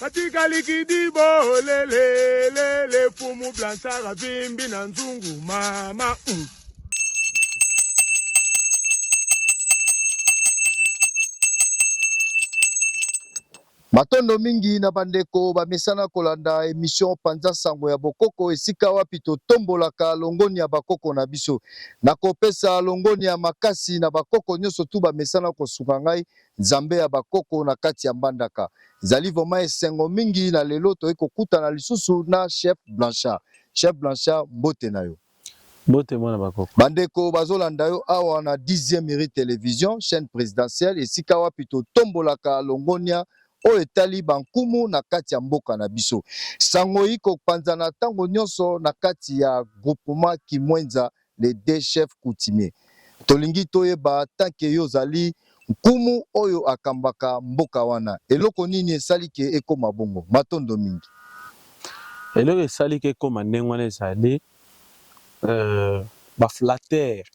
Batikali kidibo lele lele fumu blanchard avimbi na nzungu mama mm. Matondo mingi na bandeko bamesana kolanda emission Panza Sango ya Bokoko, esika wapi totombolaka longoni ya bakoko na biso. Nakopesa longoni ya makasi na bakoko nyonso tu bamesana kosunga ngai Nzambe ya ba koko na kati ya mbandaka. Ezali vraiment esengo mingi na lelo toye kokutana lisusu na chef Blanchard. Chef Blanchard mbote na yo. Mbote mwana ba koko. Ba ndeko bazolanda yo awa na dixieme rue television chaine presidentielle esika wapi totombolaka longonia oyo etali ba nkumu na kati ya mboka na biso. Sango eyiko panzana tango nionso na kati ya groupement Kimwenza Les deux chefs coutumiers tolingi toyeba tant que yo ozali nkumu oyo akambaka mboka wana eloko nini esali que ekoma bongo? Matondo mingi. Eloko esali que ekoma ndenge wana ezali ba flatteurs,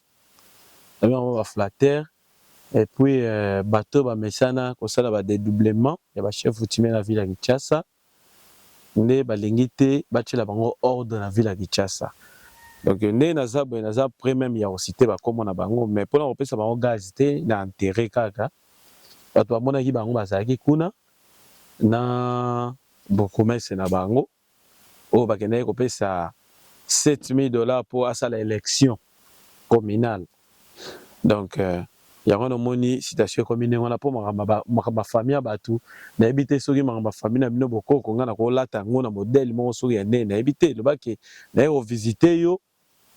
tobengi bango ba flatteurs et puis batu oyo bamesana kosala ba dedoublement ya ba chefs coutumiers na ville ya Kinshasa. nde balingi te batiela bango ordre na ville ya Kinshasa donc nde naza boye naza pret meme ya ko citer ba kombo na bango mais pona kopesa bango gaz te na enterrer kaka batu bamonaki bango bazalaki kuna na bourgoumestre na bango oyo bakendaki kopesa 7000 dollars po asala election communale. Donc yango wana omoni situation ekomi ndenge wana po makambo ya ba makambo ya famille ya batu nayebi te soki makambo ya famille na bino bokoko nga nako lata yango na modèle moko soki ya nde nayebi te loba ke naye ko visite yo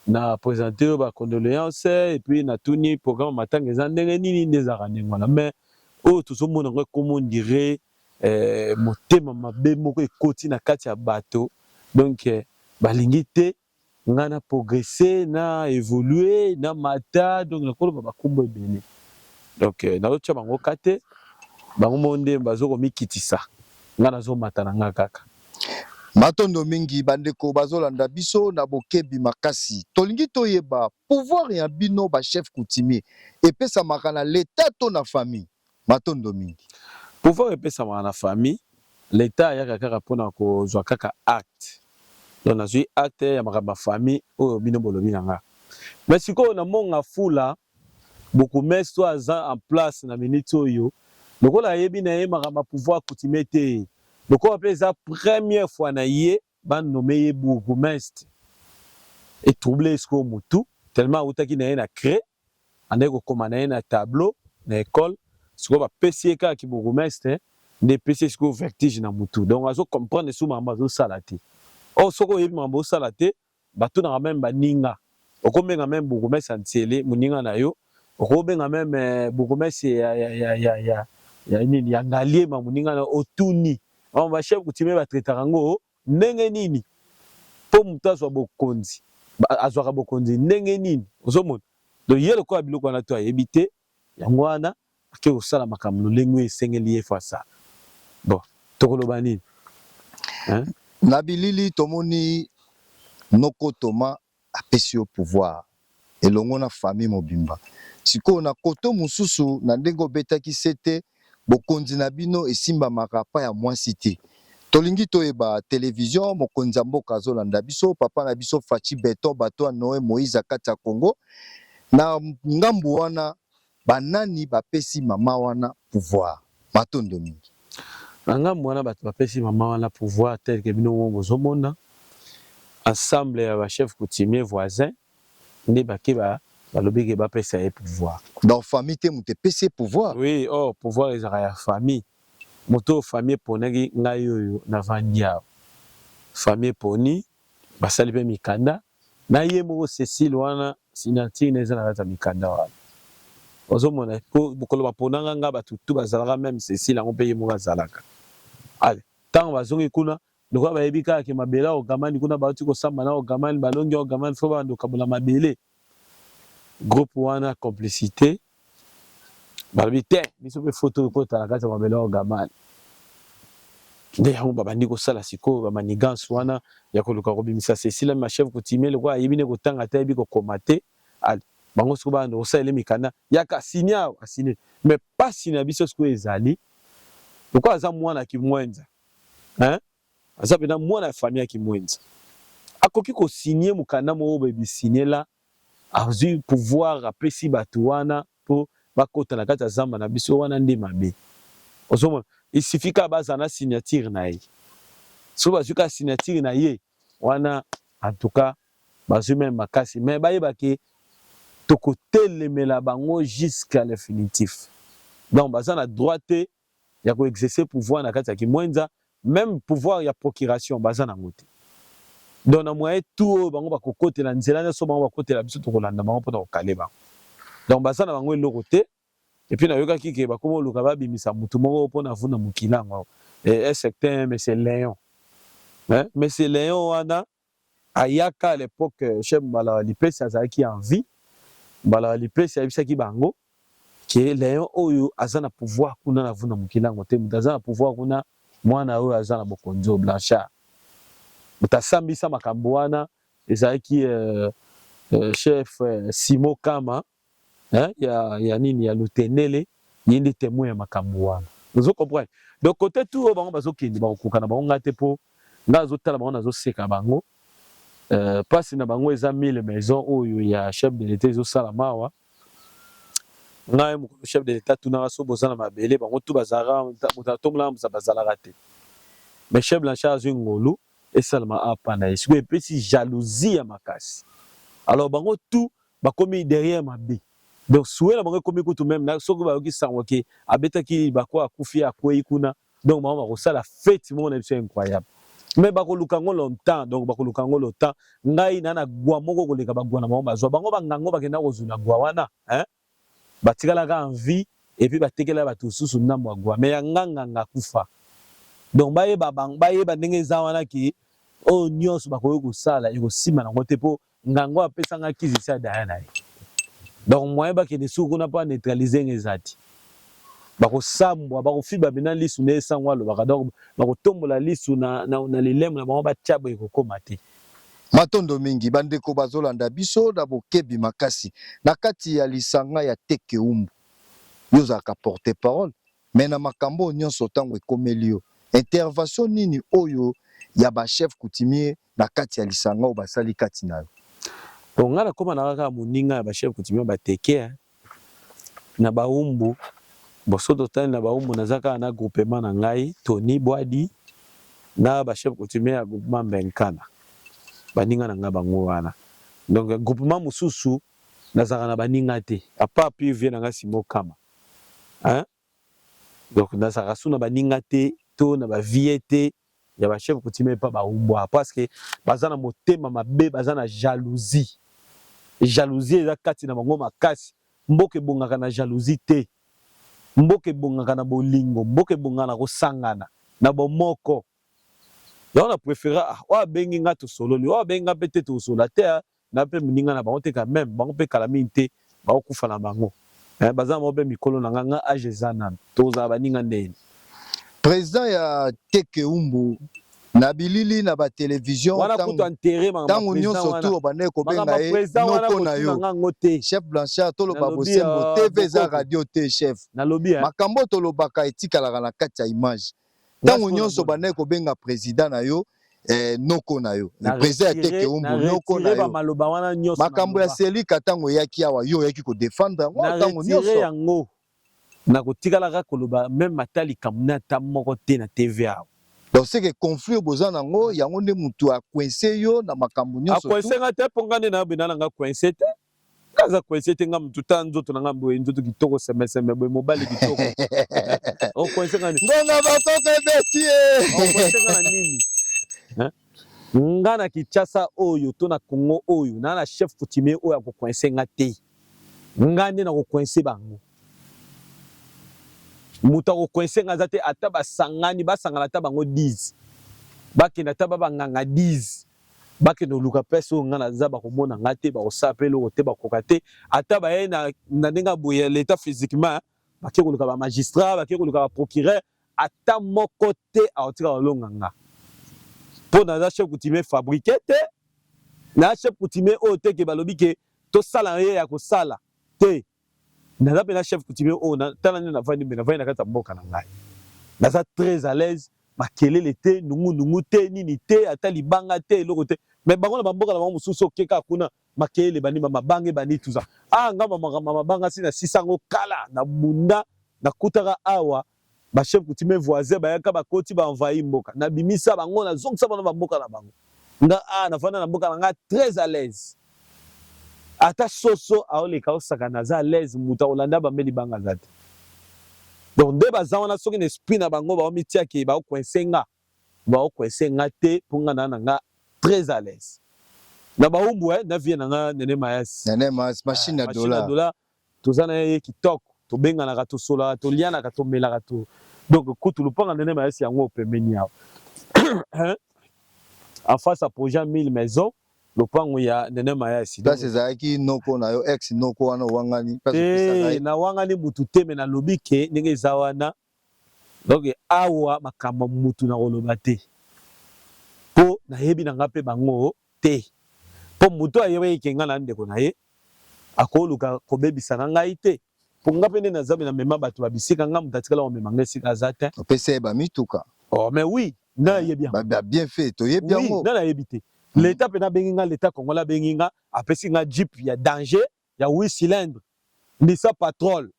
na presente yo ba condoleance et puis na tuni programme ya matanga eza ndenge nini nde ezalaka ndenge wana mais oyo tozo mona yango ekomi on dirait motema mabe moko ekoti na kati ya bato donc balingi te Nga na progresser, na evoluer, na mata, donc na ko loba ba kombo ebele. Donc nazo tia bango cas te, bango moko nde ba zo ko mikitisa, nga na zo mata na nga kaka. Matondo mingi ba ndeko ba zo landa biso na bokebi makasi. To lingi to yeba, pouvoir ya bino ba chefs coutumiers e pesamaka na l'Etat to na famille? Matondo mingi. Pouvoir epesamaka na famille, l'etat ayaka kaka pona kozua kaka acte. Donc nazui acte ya makambo ya famille oyo bino bolobi na nga. Mais sikoyo na monga fula bourgoumestre oyo aza en place na minute oyo lokola ayebi na ye makambo ya pouvoir coutumier te, lokola pe eza première fois na ye, Ba nomme ye bourgoumestre e trouble ye sikoyo mutu tellement awutaki na ye na craie andaki kokoma na ye na tableau na ecole sikoyo ba pesi ye kaka ki bourgoumestre nde epesi ye sikoyo vertige na mutu donc azo comprendre lisusu makambo azo sala te or soki oyebi makambo ozo sala te Batunaka meme baninga. Okobenga meme bourgmestre ya N'sele moninga na yo. Okobenga meme bourgmestre ya, ya, ya, ya, ya, ya nini, ya Ngaliema moninga na yo. Otuni. Makambo ba chefs coutumiers ba traitaka yango ndenge nini mpo moto azwa bokonzi, azwaka bokonzi ndenge nini. Ozo mona? Donc ye lokola biloko wana tout ayebi te, yango wana Ake kosala makambo lolenge oyo esengeli ye fasa bo tokoloba nini hein. Na bilili tomoni noko toma apesi yo pouvoir elongo na famille mobimba sikoyo na koto mosusu na ndenge obetaki sete bokonzi na bino esimbamaka pa ya muasi te tolingi toyeba television mokonzi ya mboka azolanda biso papa na biso fatshi beton bateau ya noe moise akati ya congo na ngambu wana Ba nani ba pesi maman wana pouvoir? Matondo mingi. Na ngambo wana batu ba pesi maman wana pouvoir tel que bino moko bozo mona, ensemble ya ba chefs coutumiers voisins nde bake ba balobi ke ba pesa ye pouvoir. Donc famille te mutu epesi ye pouvoir? Oui, or pouvoir ezalaka ya famille. Mutu oyo famille eponaki, ngai oyo na vandi awa famille eponi, basali pe mikanda, Na ye moko Cecile wana signature naye eza na kati ya mikanda wana ozo mona po mokolo ba ponanga nga batu tout bazalaka meme Cecile yango pe ye moko azalaka ale tango ba zongi kuna lokola ba yebi kaka ke mabele ya Ogaman kuna ba wuti ko samba na Ogaman ba longi Ogaman faut ba banda ko kabola mabele groupe wana complicite balobi te biso mpe foto ekota na kati ya mabele ya Ogamani. Nde yango babandi kosala sikoyo ba manigance wana ya koluka kobimisa Cecile ma chef coutumier lokola ayebi ne kotanga te ayebi kokoma te ali bango sikoyo banda kosala ele mikanda yaka asini awa asini me pasi na biso sikoyo ezali lokola aza mwana kimwenza hein? aza mpenza mwana ya famille ya kimwenza akoki kosinie mokanda moko boye bisiniela Azui pouvoir apesi batu wana po bakota na kati ya zamba na biso wana nde mabe ozo mona il suffit kaka bazala na signature na ye soki bazui kaka signature na ye wana en tout cas bazui meme makasi mais bayeba ke tokotelemela bango jusqu'à l'infinitif donc baza na droit te ya ko exercer pouvoir na kati ya Kimwenza, meme pouvoir ya procuration baza na yango te. Donc na moyen tout oyo bango ba ko kotela nzela nionso bango ba kotela biso toko landa bango pona ko caler bango. Donc baza na bango eloko te. Et puis na yokaki ke bakomi koluka ba bimisa mutu moko pona avunda mokila yango. Est ce que te? Mais c'est Leon. Hein? Mais c'est Leon wana Ayaka à l'epoque chef Mbala wa Lipesi azalaki en vie, Mbala wa Lipesi ayebisaki bango que Leon oyo aza na pouvoir kuna na Vuna Mukilango te, mutu aza na pouvoir kuna mwana oyo aza na bokonzi oyo Blanchard. Mutu asambisa makambo wana ezalaki euh, euh, chef euh, Simon Kama Hein ya ya nini ya lutendele ye nde temoin ya makambu wana ozo comprendre donc cote tout oyo bango bazo kende bako koka na bango nga te po nga nazo tala bango nazo seka bango euh, pasi na bango eza mille maison oyo ya chef de l'etat ezo sala mawa nga ye mukolo chef de l'etat tunaka so boza na mabele bango tout bazalaka moto atombola na bazalaka te mais chef blanchard azwi ngolu esalama apa na ye sikoyo epesi jalousie ya makasi alors bango tout Bakomi derrière mabe. Donc souhait na bango ekomi kutu meme na soki bayoki sango ke abetaki libako akufi ye akweyi kuna donc bango bakosala fete moko na biso incroyable mais bakoluka yango longtemps donc bakoluka yango longtemps ngai na na gwa moko koleka bagwa na bango bazwa bango bangango bakenda kozula gwa wana hein? batikalaka en vie et puis batekela bato mosusu ndambo ya gwa mais ya nganganga akufa donc bayeba, bayeba ndenge eza wana ke oyo nyonso bakoki kosala ekosima nango te mpo Nganga oyo apesa nga kisi sa daya na ye. Donc moyen bakende suku kuna mpo neutraliser nga eza te. Bakosambwa, bakofiba bina lisu nde sango alobaka. Donc bakotombola lisu na, na, na lilemo na bango batia boye ekokoma te. Matondo mingi ba ndeko bazo landa biso na bokebi makasi na kati ya lisanga ya Tekeumbu. Yo ozalaka porte parole Mais na makambo oyo nionso tango ekomeli yo intervention nini oyo ya ba chefs coutumiers na kati ya lisanga oyo basali kati na yo? Bon nga na koma naka kaka moninga ya ba chefs coutumiers ba Tekea na Baumbu. Bon soki to tali na Baumbu naza kaka na groupement na ngai Tony Bwadi na ba chefs coutumiers ya groupement Mbenkana baninga na ngai bango wana. Donc groupement mosusu nazalaka na baninga te apart pur vieux na ngai Simon Kama. hein donc nazalaka sous na baninga te to na ba vieux te ya ba chef coutumier epa ba umbua parce que baza na motema mabe baza na jalousie jalousie eza kati na bango makasi mboka ebongaka na jalousie te mboka ebongaka na bolingo mboka ebongaka na kosangana na bomoko yango na prefera ah oyo abengi nga tosololi oyo abengi nga mpe te tosolola te na pe muninga na bango te quand meme bango pe kala mingi te bako kufa na bango eh baza na bango pe mikolo na nga nga age eza nanu toko zala baninga nde ye President ya Tekeumbu na bilili na ba television wana tango, kutu enterre maka tango president nyonso wana tu obandaki kobenga makambo ya ye president wana noko na yo kotuna nga ngo te chef blanchard toloba Nalobi, bosembo ah, tv eza bokoko. radio te chef nalobi eh makambo oyo tolobaka etikalaka na kati ya image Tango nionso bandaki kobenga president na yo eh, noko na yo le president ya teke umbu noko na yo makambo ya selika ntango eyaki awa yo oyaki kodefendre yango ntango nyonso yango nakotikala kaka koloba meme ata likambo na ata moko te na tv awa donc seke conflit boza na yango yango nde motu akoinse yo na makambo nyonso akoinse nga te mpo nga nde nayo benda na nga koinse te Nga aza coince te nga mutu ta nzoto na nga boye nzoto kitoko sembe sembe boye mobali kitoko o coince nga nini ngonga bakoko ebeti ye o coince nga na nini Hein? nga na Kinshasa oyo to na Congo oyo na na chef coutumier oyo ako coince nga te nga nde nako coince bango moto ako coince nga aza te ata basangani basangana ata bango 10 bakenda ata ba banganga 10 bakende koluka place oyo ngai naza bakomona ngai te bakosala mpe eloko te bakoka te ata baye na, na ndenge ya boye ya leta physiquement bake koluka bamagistrat bake koluka baprocureur ata moko te akotika kolonga nga mpo naza chef coutumier fabriqué te na chef coutumier oyo te ke balobi ke tosala ye ya kosala te naza mpe na chef coutumier oyo oh, tala nde navandi mpe navandi na kati ya mboka na ngai naza très à l'aise makelele te nungunungu te nini te ata libanga te eloko te mais bango na bamboka na bango mosusu oke kaka kuna makelele bani bamabanga ebani tuza ah nga makambo mabanga si nasisa yango kala na bunda nakutaka awa Ba chefs coutumiers voisins bayaka bakoti ba envahir mboka. Na bimisa bango na zongisa bango na ba mboka na bango. Nga awa na vanda na mboka na nga très à l'aise. Ata soso aoleka osakana aza à l'aise mutu akolanda ba mbeli banga aza te. Donc nde baza wana soki na esprit na bango bao mitia ke bao coincer nga. Bao coincer nga te po nga na na nga très à l'aise. Na ba umbu eh na vie na nga Nene Mayas. Nene Mayas machine ya dollars. Machine ya dollars. Toza na ye kitoko, tobenganaka, tosolaka, tolianaka, tomelaka to donc kutu lupanga nene mayasi yango opembeni yawe en face à projet 1000 maisons lopango ya nene mayasi place ezalaki noko na yo ex noko wana owangani place opesa ngai na wangani mutu te mais nalobi ke ndenge eza wana Donc awa makambo ya mutu nako loba te po na yebi na nga pe bango te po mutu oyo ayebaki ke nga na ndeko na ye ako luka ko bebisa na ngai te po nga pe nde na zambe na mema batu ba bisika nga mutu atikala ko mema nga esika aza tein. Opesa ye ba mituka? Oh mais oui nga na yebi yango. Ba bien fait to yebi yango. Oui nga na yebi te l'etat pena abengi nga l'etat congolais abengi nga apesi nga jeep ya danger ya huit cylindres lisa patrol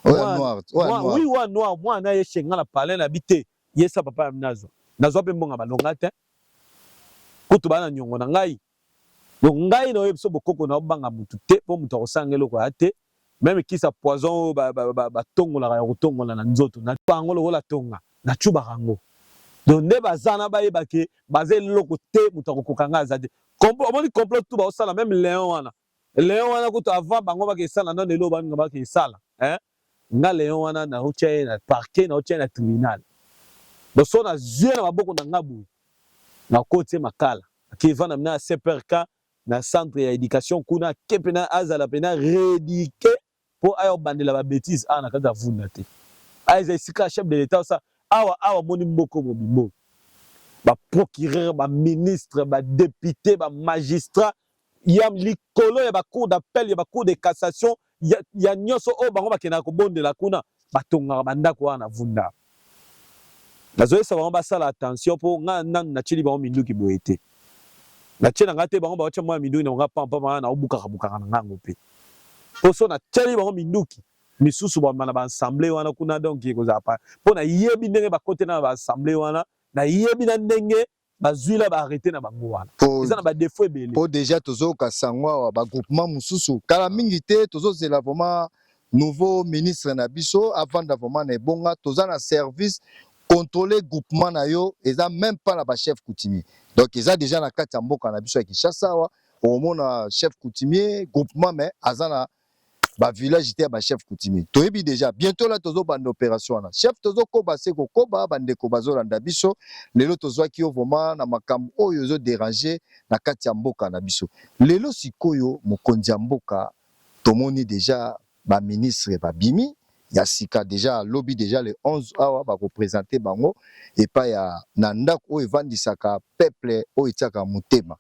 oya noir oya noir oui oya noir moi na ye chenga na palais na bite yesa papa ya mnazo nazwa pe mbonga balonga te kutu bana nyongo na ngai donc ngai na oyebiso bokoko na obanga mutu te po mutu akosanga eloko ya te meme kisa poison oyo batongolaka ya kotongola na nzoto na bango lokola tonga na chubaka yango donc nde baza na bayeba ke baza eloko te mutu akokoka ngai aza te Complot omoni complot tout ba sala même Léon wana. Léon wana kutu avant bango ba ke sala nanu elo bango ba ke sala. Hein? Nga Léon wana na otia ye na parquet na otia ye na tribunal. Donc so na zui na maboko na nga boye na kotie makala. Ki vanda na CPRK na centre ya education kuna kepe na azala pena reduquer Po aya kobandela ba betises awa na kati ya Vunda te. Awa eza esika ya chef de l'Etat osa awa awa omoni mboko mobimbo oyo. Ba procureurs, ba ministres, ba deputes, ba magistrats ya likolo ya ba cours d'appel, ya ba cours de cassation, ya ya nionso oyo bango bakendaka kobondela kuna batongaka ba ndako awa na Vunda. Nazo yebisa bango basala attention po nga nanu na tieli bango minduki boye te. Na tie na nga te bango ba tia mua minduki na bango pamba pamba nga nao bukaka bukaka na nga yango pe. Po soki na tieli bango minduki misusu ba bima na ba ensemble wana kuna donc eko zala po na yebi ndenge ba kotela na ba ensemble wana, na yebi na ndenge bazui la ba arrete na bango wana eza na ba defaut ebele po deja tozoyoka sango awa ba groupement mosusu kala ah. mingi te tozozela vraiment nouveau ministre na biso avanda vraiment na ebonga toza na service contrôler groupement na yo eza même pas na ba chef coutumier donc eza deja na kati ya mboka na biso ya Kinshasa awa okomona chef coutumier groupement mais aza na ba village te ya ba chef coutumier toyebi deja bientôt la tozo banda operation wana chef tozo koba se kokoba ba ndeko bazo landa biso lelo tozwaki yo vraiment na makambo oyo ezo deranger na kati ya mboka na biso lelo sikoyo mokonzi ya mboka tomoni deja ba ministre babimi ya sika deja lobi deja le 11 awa bako presenter bango epai ya na ndako oyo evandisaka peuple oyo etiaka motema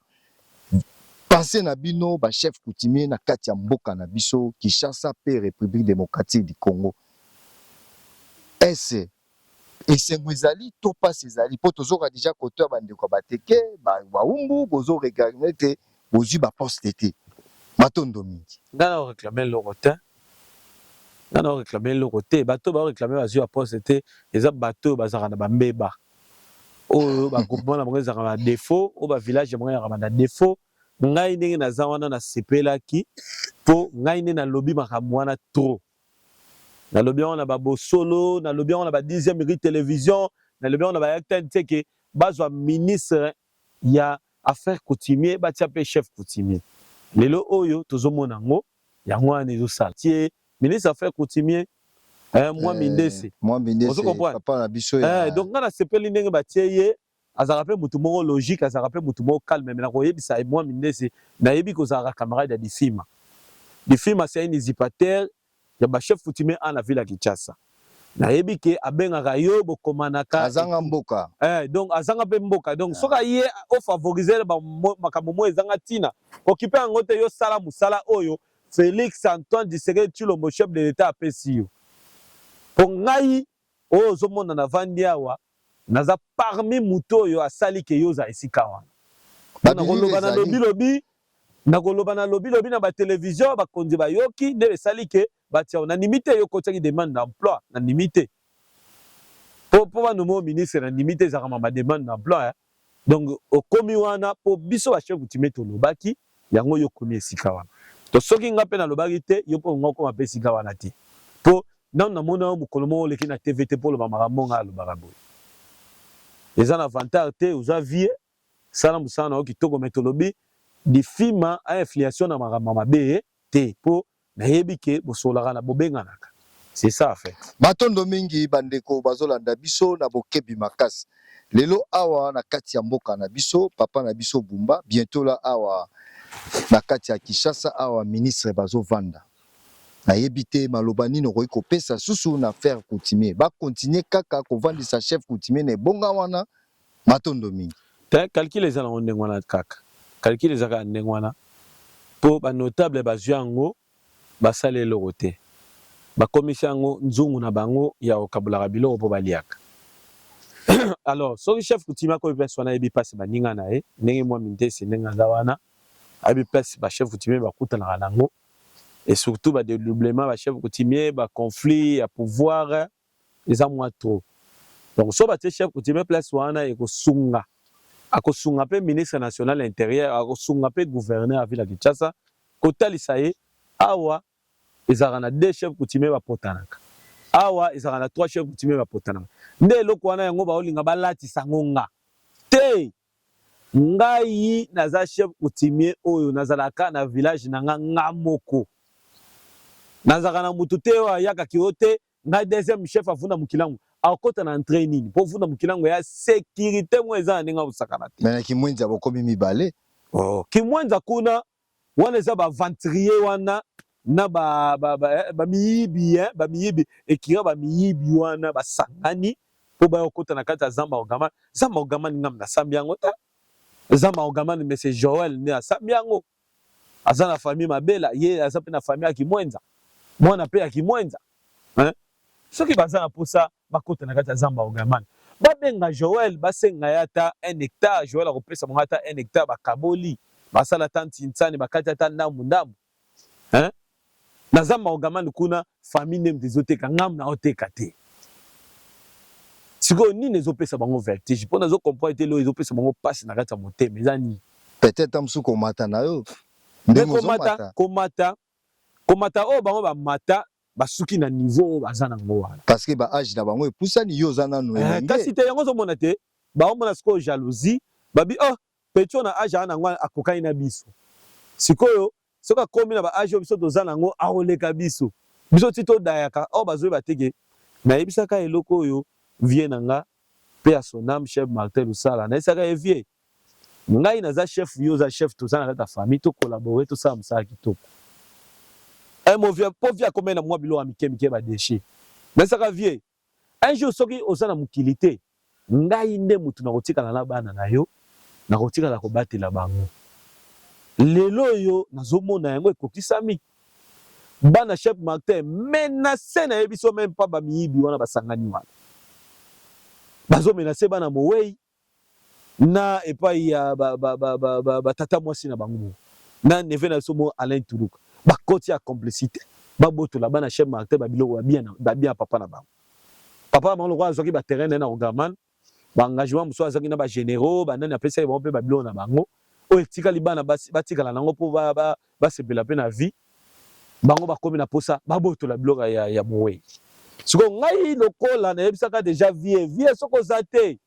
Penser na bino ba chefs coutumiers na kati ya mboka na biso Kinshasa mpe Republique democratique du Congo. Est ce esengo ezali to pasi ezali mpo tozoka dejà koto ya ba ndeko ya Bateke, ba Wawumbu bozo reclamer que bozui ba postes te. Matondo mingi. Nga nao reclamer eloko tein. Nga nao reclamer eloko te. Bato oyo bao reclamer bazui ba postes te eza bato oyo bazalaka na ba mbebaa. oyo ba groupement na bango ezalaka na defaut oyo ba village na bango ezalaka na defaut ngai ndenge naza wana nasepelaki mpo ngai nde nalobi makambo wana trop nalobi yango na babosolo nalobi yango na ba dixième rue télévision nalobi yango na bayacta nseke bazwa ministre ya affaire coutumier batia mpe chef coutumier lelo oyo tozomona yango Yango wana ezo sala. Ti est ministre ya affaires coutumier eh mwa mindese. Eh, mwa mindese papa na biso ya. Eh donc nga na sepeli ndenge ba tie ye azalaka mpe motu moko logique azalaka mpe motu moko calme me na koyebisa ye mwa mindese nayebi kozalaka camarade ya difima difima c'est un usurpateur ya ba chef coutumier ana ville ya kinshasa Nayebi ke abengaka yo bokomanaka. Azanga mboka. Eh, donc azanga pe mboka. Donc yeah. soka ye o favoriser ba makambo mo ezanga tina. Okipe yango te yo sala musala oyo Felix Antoine Tshisekedi Tshilombo chef de l'Etat apesi yo. Po ngai oyo ozomona na vandi awa naza parmi moto oyo asali ke yo ozala esika wana. Nakoloba na lobi lobi, nakoloba na lobi lobi na ba television bakonzi bayoki nde esali ke Batia na ndimi te yo kotiaki demande d'emploi na ndimi te. Po po ba nommer ministre na ndimi te ezaka mama demande d'emploi hein. Donc okomi wana po biso ba chef coutumier tolobaki yango yo okomi esika wana. To soki nga pe nalobaki te yo pe olinga okoma pe esika wana te. Po nanu na mona yo mokolo moko oleki na TV te po oloba makambo nga alobaka boye. Eza na vantard te oza vieux sala musala na yo kitoko mais tolobi difima a influation na makambo ya mabe te po Nayebi que bosololaka na bobenganaka c'est ça en fait. Matondo mingi ba ndeko bazo landa biso na bokebi makasi lelo awa na kati ya mboka na biso papa na biso bumba bientot la awa na kati ya Kinshasa awa ministre bazo vanda na yebi te maloba nini okoki kopesa susu na ferre coutumier ba continuer kaka kovandisa chef coutumier na ebonga wana Matondo mingi. Te, calcul eza nango ndenge wana kaka. Calcul eza kaka ndenge wana po ba notables bazui yango basali eloko te. Bakomisi yango nzungu na bango ya kokabolaka biloko po baliaka. Alors, soki chef coutumier akomi place wana ayebi place ya baninga na ye, ndenge Mwami Ndesi ndenge aza wana, ayebi place ba chefs coutumiers bakutanaka na yango et surtout ba dedoublements ya ba chefs coutumiers, ba conflits ya pouvoir, eza mua trop donc soki batie chef coutumier place wana ekosunga akosunga pe ministre national ya interieur akosunga pe gouverneur ya ville ya Kinshasa kotalisa ye awa ezalaka na deux chef coutumier bapotanaka awa ezalaka na trois chef coutumier bapotanaka nde eloko wana yango baolinga balatisa yango nga te ngai naza chef coutumier oyo nazalaka kaka na village na nga nga moko nazalaka na mutu te oyo ayaka kiotee Ngai deuxième chef avunda mukilangu akota na entree nini po vunda mukilangu ya securite ngo eza na ndenge akosakana te. Mais na kimwenza bokomi mibale. Oh kimwenza kuna wana eza ba aventurier wana na ba ba ba, eh, ba miyibi hein ba miyibi ekira ba miyibi wana basangani po baya kokota na kati ya zamba ogamani zamba ogamani ngam nasambi yango te zamba ogamani monsieur Joël nde asambi yango aza na famille mabela ye aza pe na famille ya kimwenza mwana pe ya kimwenza hein soki baza na posa bakota na kati ya zamba ogaman babenga Joël basenga ye ata un hectare Joël akopesa bango ata un hectare bakaboli basala ata ntinsani bakati ata ndambu ndambu hein Na zamba ogaman kuna famille nemd ezo teka ngam nao teka te sikoyo nini ezo pesa bango vertige po nazo comprendre te leo ezo pesa bango pasi na kati ya motema eza nini peut etre musu komata na yo ndenge ozo mata komata komata oyo bango ba mata basuki na niveau oyo baza na ngo wana parce que ba age na bango epusani yo oza nanu elenge eh, kasi te yango ozo mona te bango mona sikoyo jalousie babi oh pecho na age ana ngo akokani na biso sikoyo Soki akomi na ba age oyo biso toza nango akoleka biso. Biso ti to dayaka or bazo yeba te ke na yebisa ka eloko oyo vieux na nga paix à son ame chef Martin Lusala na yebisa ka ye vieux ngai naza chef yo oza chef toza na kati ya famille to collaborer to sala musala kitoko. Un mot vieux po vieux akomaki na mua biloko ya mike mike ba dechets na yebisa ka vieux Un jour soki oza na mokili te, ngai nde motu nakotikala na bana na yo, nakotikala kobatela bango. Lelo oyo nazomona yango ekokisami. Bana chef Martin menace nayebi biso meme pas ba miyibi wana basangani wana. Bazo menace bana mowei. na epai ya ba, ba, ba, ba, ba, ba tata mwasi na bango na neve na biso mo Alain Tuluka bakoti ya complicite babotola bana chef Martin ba biloko babia na babia papa na bango papa na bango lokola azwaki ba terrain na na Ogaman ba engagement mosusu azwaki na ba généraux banani apesaki bango mpe ba biloko na bango oyo etikali bana basi batikala na yango mpo ba, ba, basepela mpe na vie bango bakomi na posa babotola biloko ya, ya mowei siko ngai lokola nayebisaka deja vie vie soki oza te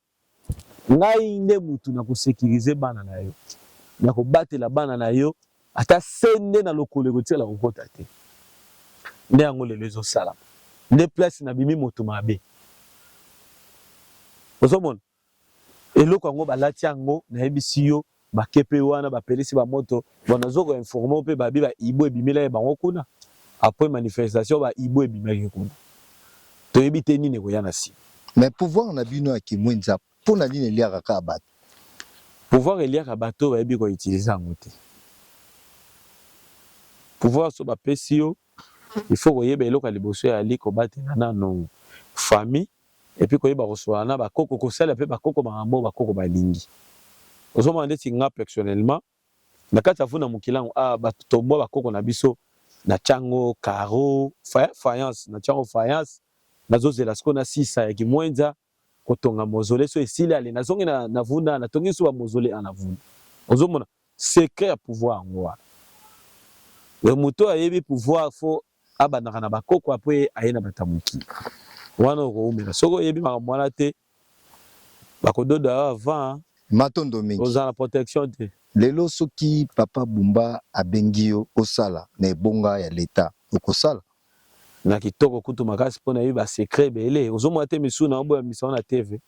ngai nde mutu na kosekirize bana na yo na kobatela bana na yo ata se nde na lokolo ekotikala kokota te nde yango lelo ezosalama nde place nabimi moto mabe ozomona Eloko yango balati yango nayebisi yo makepe wana bapelisi ba moto bon nazo ko informe yo pe babi ba hibou ebimelaki bango kuna après manifestation ba hibou ebimaki kuna toyebi te nini ekoya na sima. Mais pouvoir na bino ya kimuinza pona nini eliaka kaka batu? Pouvoir eliaka batu oyo bayebi ko utiliser yango te. Pouvoir soki bapesi yo il faut koyeba eloko ya liboso eyali kobatela nanu famille et puis koyeba kosolola na ba koko kosalela pe ba koko makambo oyo ba koko balingi ozomona ndeti nga pectionnelement na kati ya vu na mukilangu awa ba tomboa ba koko na biso na tiango caro fayance na tiango fayance nazozela sikoyo na sisa ya kimuenza kotonga mozole so esili ale na zongi na na vu na na tongi lisusu ba mozole a na vu na ozomona secret ya pouvoir yango wana moto oyo ayebi pouvoir fo abandaka na ba koko après aye na bata muki wana okowumela soki oyebi makambo wana te bakododo yo avant matondo mingi ozala na protection te lelo soki papa bumba abengi yo osala na ebonga ya leta okosala na kitoko kutu makasi mpo nayebi ba secret ebele ozomona te misusu na oboya misango na tv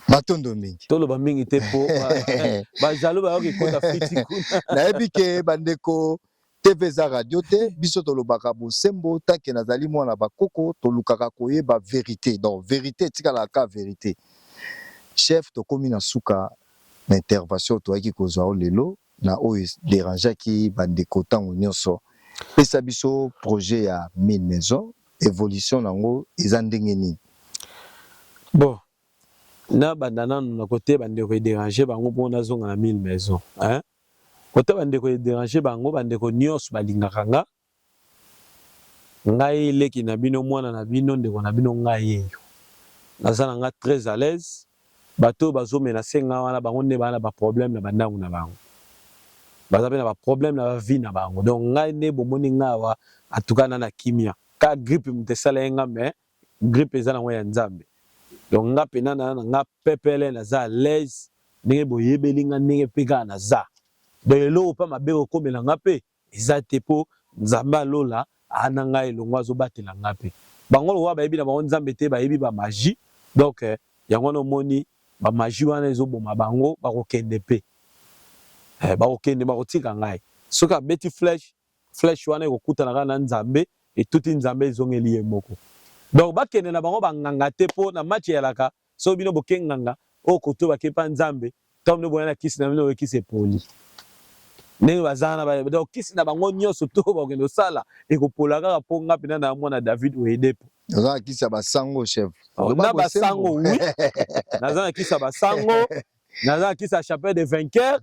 matondo mingi toloba mingi te mpo bajalo bayoki kota fiti kuna nayebi ke bandeko TV eza radio te biso tolobaka bosembo tanke nazali mwana bakoko tolukaka koyeba verite donc verite etikala ka verite chef tokomi na suka na intervention toyaki kozwa o lelo na oyo derangeaki bandeko ntango nyonso pesa biso projet ya 1000 maison evolution na yango eza ndenge nini bon nabanda nanu na kote bandeko ederange bango mpo nazonga na 1000 maison hein? Kota ba ndeko e derange bango ba ndeko nionso ba lingaka nga ngai leki na bino muana na bino ndeko na bino nga yeyo naza na nga tres alaise batu oyo bazo menace nga wana bango nde baza na ba probleme na ba ndangu na bango baza pe na ba probleme na ba vie na bango donc ngai nde bomoni nga awa en tout cas na na kimia ka gripe mutu esala ye nga mais grippe eza nango ya nzambe donc nga pena na na nga pepele naza à l'aise ndenge boyebeli nga ndenge pe kaka naza donc eloko pa mabe okomela nga pe eza te po nzambe ya lola aa na nga elongo azobatela nga pe bango lokola bayebi na bango nzambe te bayebi ba magie donc yango wana omoni ba magie wana ezoboma bango bakokende pe eh bakokende bakotika ngai soki abeti flèche Flèche wana ekokutana kaka na Nzambe, etuti Nzambe ezongeli ye moko. Donc bakende na bango ba nganga te po na match eyalaka soki bino boke nganga oyo koto bake epa Nzambe tango bino boya na kisi na bino kisi epoli ndenge baza wana ba donc kisi na bango nionso to bakende kosala ekopola kaka po nga pena na mwana David Oyedepo Naza na kisi ya basango chef. Oh, na basango oui. Naza na kisi ya basango. Naza na kisi ya chapelle de vainqueur.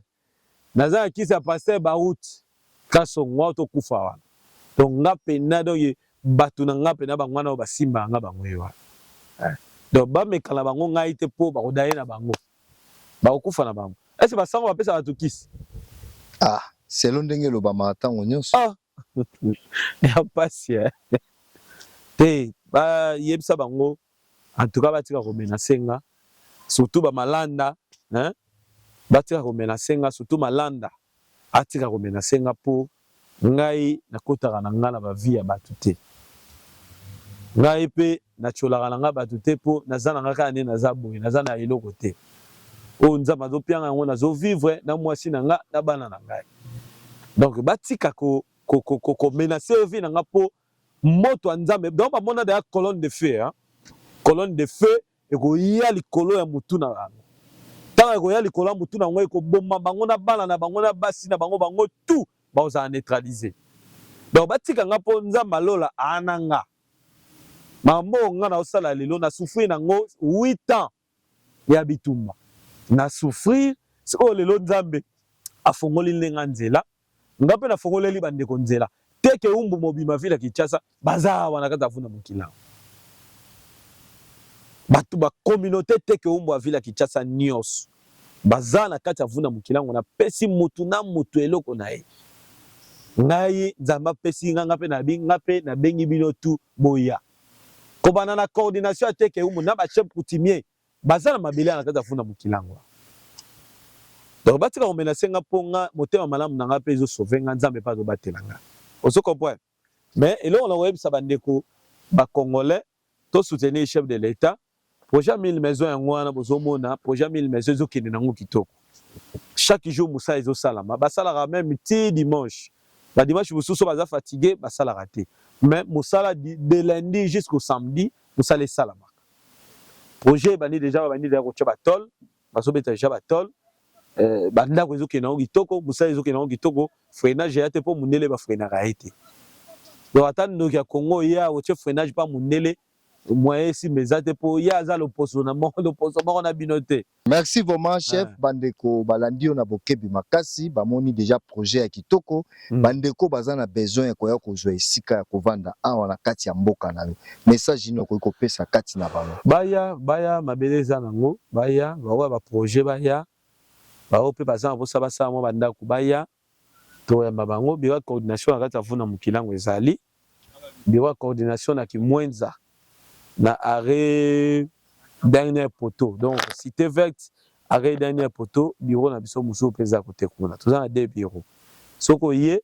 Naza na kisi ya pasteur Baruth Kasongo awa to kufa wana. Donc nga pena donc batu na nga pena bango wana ba simba nga bango ye wana. Eh. Donc ba mekana bango ngai te po ba ko daye na bango. Ba ko kufa na bango. Est-ce ba sango ba pesa batu kisi? Ah, selon ndenge elobamaka ntango nyonso. Ah, ya pasi eh. Te ba yebisa bango en tout cas batika ko menacer nga surtout ba malanda hein batika ko menacer nga surtout malanda atika ko menacer nga po ngai nakotaka na nga na ba vie ya batu te ngai pe na tsholaka na nga batu te po naza na nga kaka nde naza boye naza na eloko te oyo nzambe azopianga yango nazo vivre na mwasi na nga na bana na ngai donc batika ko, ko, ko, ko, ko menacer yo vie na nga mpo moto ya nzambe donc bamona deya colonne de feu hein? colonne de feu ekoya likolo ya motu na bango ntango ekoya likolo ya motu na yango ekoboma bango na bana na bango na basi na bango bango tout bakozala neutralise donc batika nga mpo nzambe alola aana nga mambo nga naosala lelo na souffrir nango 8 ans ya bitumba na souffrir sikoyo lelo nzambe afongoli nde nga nzela nga mpe nafongoleli bandeko nzela teke umbu mobima vile ya kinshasa baza awa na kati ya vuna mokili awa bato ba communauté teke umbu ya vile ya kinshasa nyonso baza na kati ya vuna mokili yango napesi motu na motu eloko na ye ngai nzambe apesi nga nga mpe nabi nga mpe nabengi bino tu boya kobanda na coordination ya teke umu na ba chef coutumier baza na mabele ya na kati ya funda mokilangwa donc batika komenase nga mpo nga motema malamu na nga mpe ezo sauve nga nzambe mpe azobatela nga ozo comprendre mais eloko na koyebisa bandeko bacongolais to soutenir chef de l'etat Projet ya 1000 maison yango wana bozomona projet ya 1000 maison ezokende nango kitoko. Chaque jour mosala ezosalama, basalaka meme ti dimanche. Ba dimanche mosusu baza fatigue basalaka te. Mais mosala de lundi jusqu'au samedi mosala esalamaka. Projet ebandi deja babandi deja kotya ba tol, bazobeta deja ba tol. Eh, ba ndako ezokende nango kitoko, mosala ezokende nango kitoko, freinage eya te mpo mundele ba freinaka ye te. Donc ata ndoki ya Congo ye akotye freinage mpa mundele Moyen esimba eza te po ye aza loposo na moko loposo moko na bino te. Merci vraiment chef ah. bandeko balandi yo na bokebi makasi bamoni deja projet ya kitoko mm. bandeko baza na besoin ya koya kozwa esika ya kovanda awa na kati ya mboka na yo message nini okoki kopesa kati na bango baya baya mabele eza nango baya baoya baprojet baya baoyo mpe baza na mposa basala mwa bandako baya Tokoyamba bango. Biro ya coordination na kati ya Vuna Mukilangu ezali biro ya coordination na Kimwenza na arret dernier poteau donc cite verte arret dernier poteau biro na biso mosusu mpe eza kote kuna toza na deux biro soki oye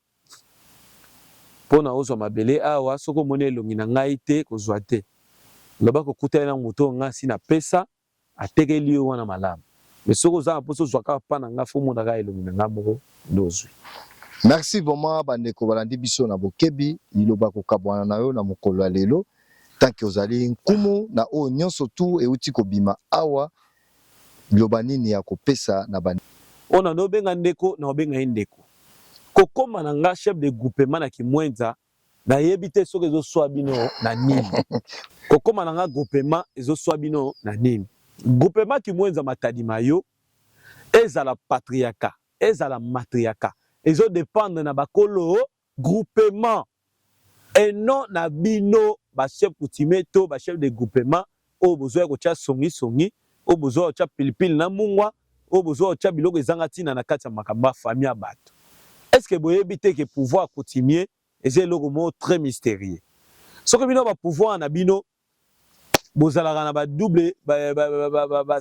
mpona ozwa mabele awa soki omoni elongi na ngai te kozwa te loba kokuta ye na moto oyo ngai si napesa Atekeli yo wana malamu. Mais soki oza na posa ozua kaka pas na nga faut omona kaka elongi na nga moko nde ozui. Merci vraiment ba ndeko balandi biso na bokebi liloba ya kokabuana na yo na mokolo ya lelo tant que ozali nkumu na oyo nionso tout ewuti kobima awa liloba nini ya kopesa na ba Oyo nanu obenga ndeko nako benga ye ndeko. Kokoma na nga chef de groupement na kimuenza Na yebi te soki ezo swa bino na nini. Ko koma na nga groupema ezo swa bino na nini. Groupema Kimuenza Matadi ma yo ezala patriaka ezala matriaka ezo dependre na ba kolo groupema et non na bino ba chef coutumier to ba chef de groupema oyo bozo ya kotia songi songi, oyo bozo ya kotia pili pili na mungwa, oyo bozo ya kotia biloko ezanga tina na kati ya makambo ya famille ya batu. Est ce que boyebi te que pouvoir coutumier eza eloko moko très mysterieux? Soki bino ba pouvoirs na bino bozalaka na ba double ba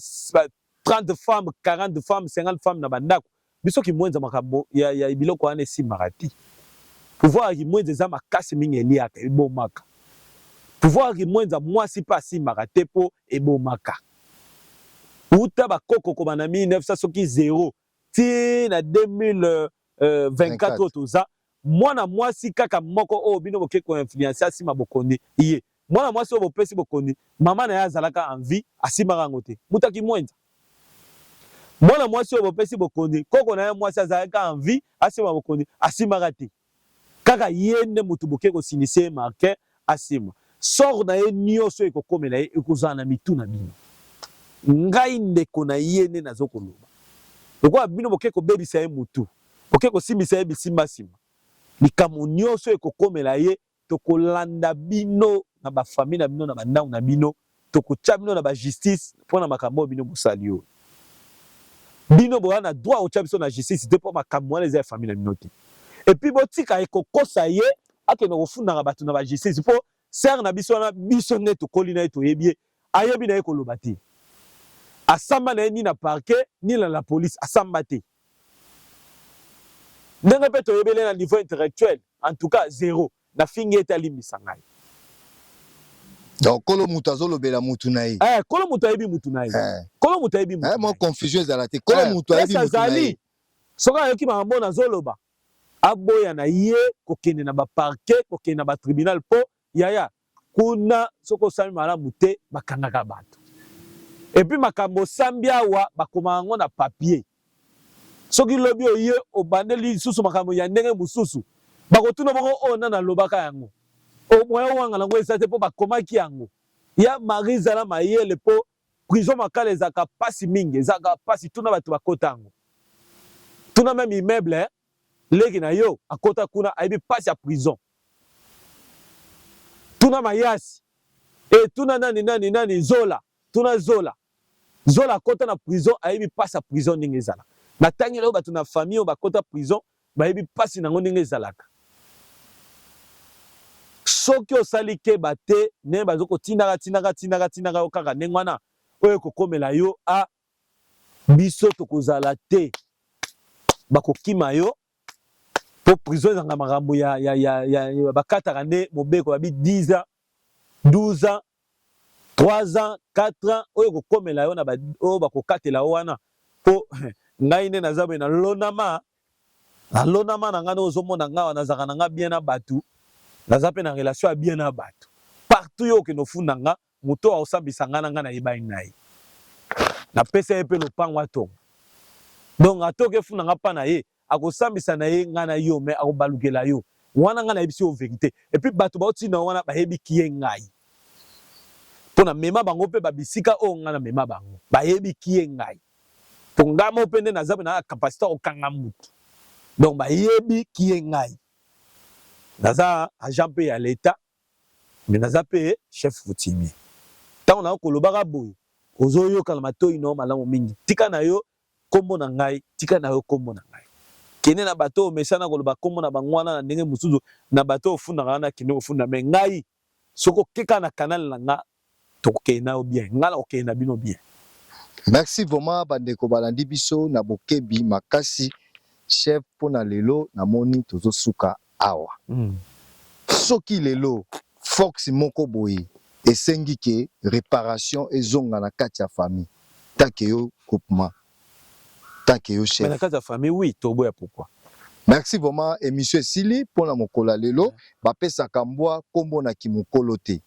30 femmes, 40 femmes, 50 femmes na bandako. Biso kimwenza makambo ya, ya biloko wana esimbaka te. Pouvoir ya kimwenza eza makasi mingi, eliaka, ebomaka. Pouvoir ya kimwenza mwasi mpe asimbaka te mpo ebomaka. Uta bakoko kobanda 1900 soki zero ti na 2024 oyo toza mwana mwasi kaka moko oyo bino boke ko influencer asima bokoni ye mwana mwasi oyo bopesi bokoni mama na ye azalaka en vie asimaka yango te mutu akimwenza mwana mwasi oyo bopesi bokoni koko na ye mwasi azalaka en vie asima bokoni asimaka te Kaka ye nde mutu boke ko silisa ye martin asima sort na ye nioso oyo ekokomela ye ekozala na mitu na bino ngai ndeko na ye nde nazo koloba lokola bino boke kobebisa ye mutu boke kosimbisa ye bisimba sima likambo nioso ekokomela ye tokolanda bino na ba famille na bino na ba ndako na bino tokotya bino na ba justice mpo na makambo oyo bino bosali oyo bino boza na droit kotya biso na justice te mpo makambo wana eza ya famille na bino te epuis botika ye kokosa ye akende kofundaka bato na ba justice mpo sere na biso wana biso nde tokoli na ye toyebi ye Ayebi naye koloba te. Asamba naye ni na parquet ni na la police asamba te. Ndenge pe toyebeli ye na niveau intellectuel en tout cas zero. Nafingi ye te alimbisa ngai. Donc kolo moto azolobela mutu na ye. Eh, kolo moto ayebi mutu na ye. Eh. Kolo moto ayebi mutu. Eh, mo confusion ezala te. Kolo eh, moto ayebi mutu na ye. Soki ayoki makambo nazoloba, aboya na ye kokende na ba parquet, kokende na ba tribunal po Yaya, kuna soki osami malamu te bakangaka bato. Epuis makambo osambi awa bakomaka yango na papier. Soki lobi oye obandeli lisusu makambo ya ndenge mosusu, bakotuna bongo oyo nani alobaka yango? O moyen owangana yango eza te mpo bakomaki yango. Ya Marie zala mayele mpo prison Makala ezalaka pasi mingi, ezalaka pasi tuna bato bakota yango. Tuna meme immeuble hein. Leki na yo akota kuna ayebi pasi ya prison. Tuna mayasi. E tuna nani nani nani zola. Tuna zola. Zola akota na prison ayebi pasi ya prison ndenge ezala. Na tangi na yo batu na famille oyo bakota prison bayebi pasi na ngo ndenge ezalaka. Soki osali keba te ne bazo ko tinaka tinaka tinaka tinaka yo kaka ndenge wana oyo ekokomela yo a ah, biso tokozala te bakokima yo po prison ezanga makambo ya, ya, ya, ya, ya bakataka nde mobeko babi 10 ans 12 ans 3 ans 4 ans oyo kokomela yo na ba, oyo bakokatela yo wana po ngai nde naza boye nalonama nalonama na ngai nde ozomona ngai wana nazalaka na ngai bien na bato naza mpe na relation ya bien na bato partout yo okende ofunda ngai Moto oyo akosambisa ngai na ngai na yebani na ye. Na pesa ye pe lopango atonga. Donc atoka efunda nga pa na ye, akosambisa na ye ngai na yo mais akobalukela yo. Wana ngai na yebisi yo verite. Et puis bato bao tinda yo wana ba yebi qui est ngai. Po na mema bango pe ba bisika oyo ngai na mema bango. Ba yebi qui est ngai. Po ngai moko pe nde naza pe na capacite ya ko kanga mutu. Donc ba yebi qui est ngai. Naza agent pe ya l'etat. Mais naza pe chef coutumier tango na yo ko lobaka boye ozo yoka na matoyi na yo malamu mingi tika na yo kombo na ngai tika na yo kombo na ngai kende na bato oyo omesana ko loba kombo na bango wana na ndenge mosusu na bato oyo ofundaka wana kende ko funda mais ngai soki oke kaka na canal na ngai Tokokende na yo bien. Nga nako kende na bino bien. Merci vraiment ba ndeko balandi biso na bokebi makasi chef pona lelo na moni tozo suka awa soki lelo fox moko boye esengi ke reparation ezonga na kati ya famille ta ke yo groupement ta ke yo chef mais na kati ya famille oui tobo ya pourquoi. Merci vraiment emission esili pona mokolo ya lelo ba pesaka mbwa kombo na kimukolo te.